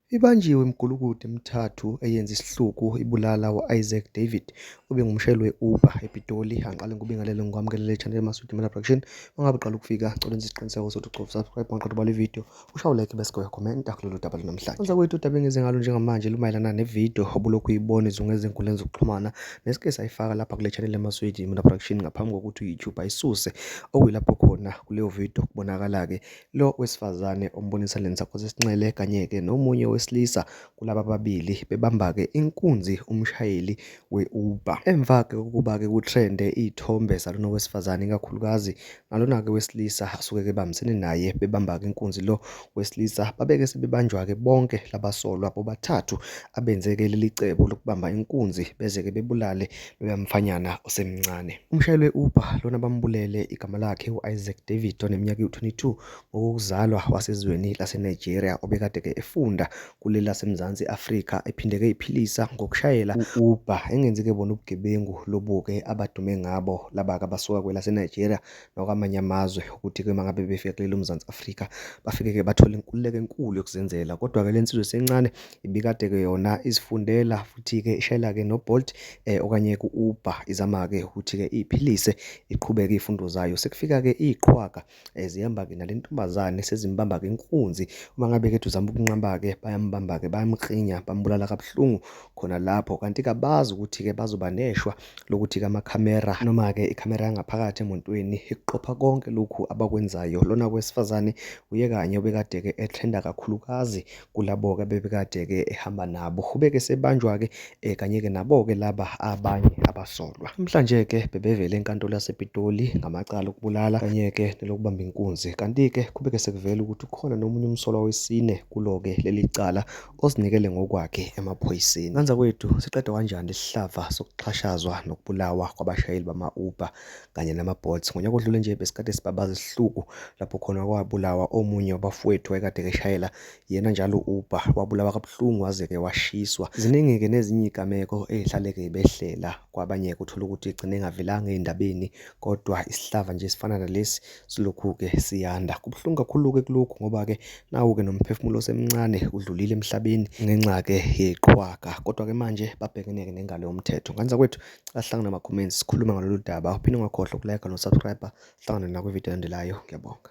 Ibanjiwe imigulukudu emithathu eyenza isihluku ibulala u-Isaac David obengumshayeli we-Uber ePitoli. Angiqale ngikubingelele ngikwamukelele channel Masudi Mela Production. Mangabe uqala ukufika cela enze isiqiniseko sokuthi ugcoba subscribe maqeda ubale video. Ushawu like bese uya comment akulolu daba namhlanje. Kwenza kwethu udaba engenze ngalo njengamanje lumayelana nevideo obulokhu uyibona izungu ezinkundleni zokuxhumana nesike sayifaka lapha kule channel Masudi Mela Production ngaphambi kokuthi uYouTube ayisuse okuyilapho khona kuleyo video kubonakala ke Lo wesifazane ombonisa le nsakhosi esinxele kanye-ke nomunye wesilisa kulaba ababili bebamba-ke inkunzi umshayeli we-Uber. Emva-ke kokuba-ke kutrende iy'thombe zalona wesifazane ikakhulukazi nalona-ke wesilisa asuke-ke bambisene naye bebamba-ke inkunzi lo wesilisa babeke sebebanjwa-ke bonke labasolwa bobathathu abenzeke leli cebo lokubamba inkunzi beze-ke bebulale uyamfanyana osemncane. Umshayeli we-Uber lona bambulele igama lakhe u-Isaac David oneminyaka ewu-22 ngokuzalwa wasezweni laseNigeria obekade-ke efunda kuleli laseMzansi Afrika ephindeke iphilisa ngokushayela u-Uber engenzi-ke bona ubugebengu lobuke abadume ngabo laba-ke abasuka kwelaseNigeria nakwamanye amazwe ukuthi ke mangabe befika kuleli uMzansi Afrika bafike ke bathole inkululeko enkulu yokuzenzela kodwa ke lensizwe sencane ibikade ke yona izifundela futhi ke ishayela ke noBolt eh okanye kuUber izama ke ukuthi ke iphilise iqhubeke ifundo zayo sekufika ke iqhwaga eh, zihamba ke nalentombazane sezimbamba ke inkunzi uma ngabe ke uzama ukunqamba ke bayambamba ke bayamkhinya bambulala kabuhlungu khona lapho kanti kabazi ukuthi ke bazoba neshwa lokuthi kamakhamera noma-ke ikhamera yangaphakathi emontweni ikuqopha konke lokhu abakwenzayo lona kwesifazane uye kanye obekade-ke etrenda kakhulukazi kulabo-ke bebekade-ke ehamba nabo ubeke sebanjwa-ke um eh, kanye-ke nabo-ke laba abanye abasolwa namhlanje-ke bebevele enkantolo yasepitoli ngamacala okubulala kanye-ke nelokubamba inkunzi kanti-ke kubeke sekuvela ukuthi ukhona nomunye umsolwa wesine kulo-ke leli cala ozinikele ngokwakhe emaphoyiseni. Nganza kwethu siqeda kanjani isihlava sokuxhashazwa nokubulawa kwabashayeli bama-Uber kanye nama-Bolt. Ngonyaka odlule nje besikade sibabaza isihluku lapho khona kwabulawa omunye wabafowethu wayekade keshayela yena njalo u-Uber wabulawa kabuhlungu waze-ke washiswa. Ziningi-ke nezinye iy'gameko ey'hlale-ke behlela kwabanye-ke uthole ukuthi igcine engavelanga ey'ndabeni kodwa isihlava nje esifana nalesi silokhu-ke siyanda. Kubuhlungu kakhulu-ke kulokhu ngoba-ke nawo-ke nomphefumulo osemncane udlulile emhlabeni ngenxa-ke yeqhwaga. Kodwa-ke manje babhekene-ke nengalo yomthetho. Ngane zakwethu, cela sihlangane ama-comments sikhulume ngalolu daba. Uphinde ungakhohlwa ukulike nosubscribe. Sihlangane nakwividiyo elandelayo. Ngiyabonga.